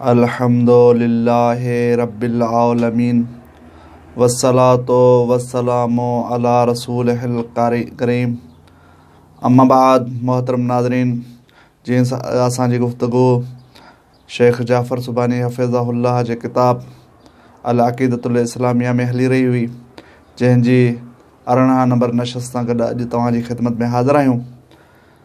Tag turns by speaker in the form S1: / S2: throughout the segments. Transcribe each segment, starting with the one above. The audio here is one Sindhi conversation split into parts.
S1: الحمد لله رب العالمين والصلاة والسلام علي رسوله الڪريم اما بعد محترم ناظرين جي اسان جي گفتگو شيخ جعفر سبحاني حفظه الله جي ڪتاب العقيدة الاسلاميه ۾ هلي رهي هئي جنهن جي ارڙهن نمبر نشست سان گڏ اڄ توهان جي خدمت ۾ حاضر آهيون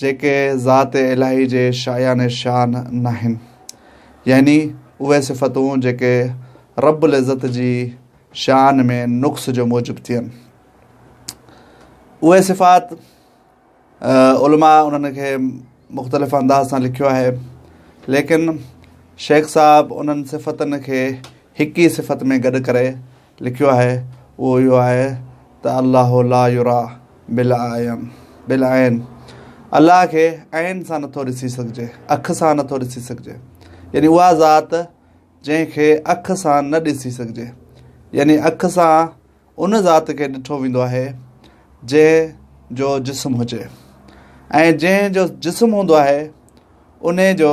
S1: جيڪي ذات الاھي جي شايان شان ناھن يعني اھي صفتون جيڪي رب العزت جي شان ۾ نقص جو موجب ٿين اھي صفات علماء انھن کي مختلف انداز سان لکيو آھي ليڪن شيخ صاحب انھن صفتن کي ھڪ ئي صفت ۾ گڏ ڪري لکيو آهي اهو اهو آهي ته الله لا يرا بالاعين بالاعين الله کي عين سان نٿو ڏسي سگهجي اک سان نٿو ڏسي سگهجي يعني اها ذات جنهن کي اک سان نه ڏسي سگهجي يعني اک سان ان ذات کي ڏٺو ويندو آهي جنهن جو جسم هجي ۽ جنهن جو جسم هوندو آهي ان جو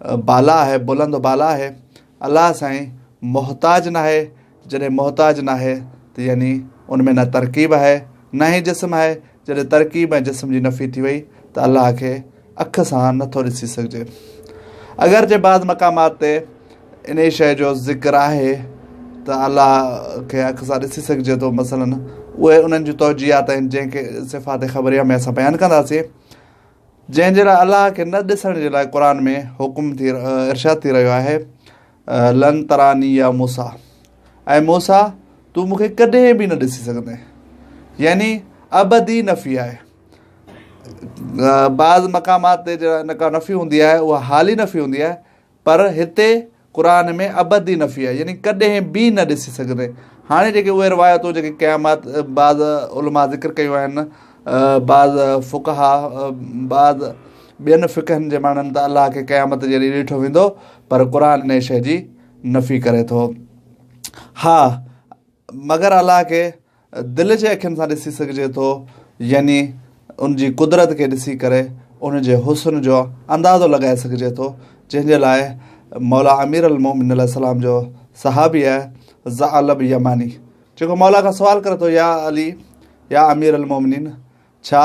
S1: بالا آهي بلند و بالا آهي الله سائين محتاج ناهي جڏهن محتاج ناهي ته يعني ان ۾ نه ترڪيب آهي نه ئي جسم آهي جڏهن ترڪيب ۽ جسم جي نفي ٿي وئي ته الله کي اک سان نٿو ڏسي سگهجي اگر جي بعض مقامات تي انهي شيء جو ذڪر آهي ته الله کي اک سان ڏسي سگهجي ٿو مثلا اهي انهن جون توجيهات آهن جنهن کي صفات خبريه ۾ اسان بيان ڪنداسين جنهن جي لاء الله کي نه ڏسڻ جي لاء قرآن ۾ حڪم ٿي ارشاد ٿي رهيو آهي لن تراني يا موسا اي موسا تون مون کي ڪڏهن به نه ڏسي سگهندين يعني ابدي نفي آهي بعض مقامات تي جا نفي هوندي آهي اها حالي نفي هوندي آهي پر هتي قرآن ۾ ابدي نفي آهي يعني ڪڏهن به نه ڏسي سگهندين هاڻي جيڪي اهي روايتون جيڪي قيامات بعض علماء ذڪر ڪيون آهن بعض فقها بعض ٻين فقهن جي ماڻهن ته الله کي قيامت جي ڏينهن ڏٺو ويندو پر قرآن ان شي جي نفي ڪري ٿو ها مگر الله کي دل جي اکين سان ڏسي سگهجي ٿو يعني ان جي قدرت کي ڏسي ڪري ان جي حسن جو اندازو لڳائي سگهجي ٿو جنهن جي لاء مولا امير المومنين عليه السلام جو صحابي آهي ذعلب يماني جيڪو مولا کان سوال ڪري ٿو يا علي يا امير المومنين ڇا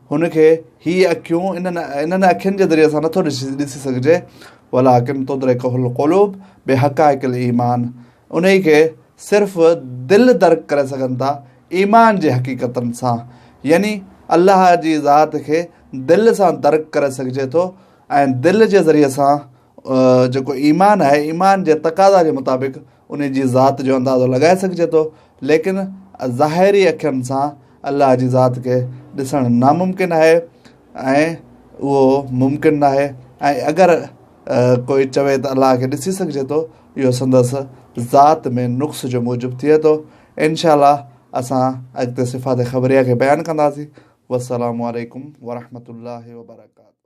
S1: هن کي هي اکيون انهن انهن اکين جي ذريعي سان نٿو ڏسي سگهجي ولاڪن تدرڪه القلوب بحقائق الايمان انهي کي صرف دل درڪ ڪري سگهن ٿا ايمان جي حقيقتن سان يعني الله جي ذات کي دل سان درڪ ڪري سگهجي ٿو ۽ دل جي ذريعي سان جيڪو ايمان آهي، ايمان جي تقاضا جي مطابق انهي جي ذات جو اندازو لڳائي سگهجي ٿو، ليڪن ظاهري اکين سان الله جي ذات کي ڏسڻ ناممڪن آهي ۽ اهو ممڪن ناهي ۽ اگر ڪوئي چوي ته الله کي ڏسي سگهجي ٿو، اهو سندس ذات ۾ نقص جي موجب ٿئي ٿو. انشاء الله اسان اڳتي صفات خبريه کي بيان ڪنداسين. والسلام عليڪم ورحمة الله وبرڪاته.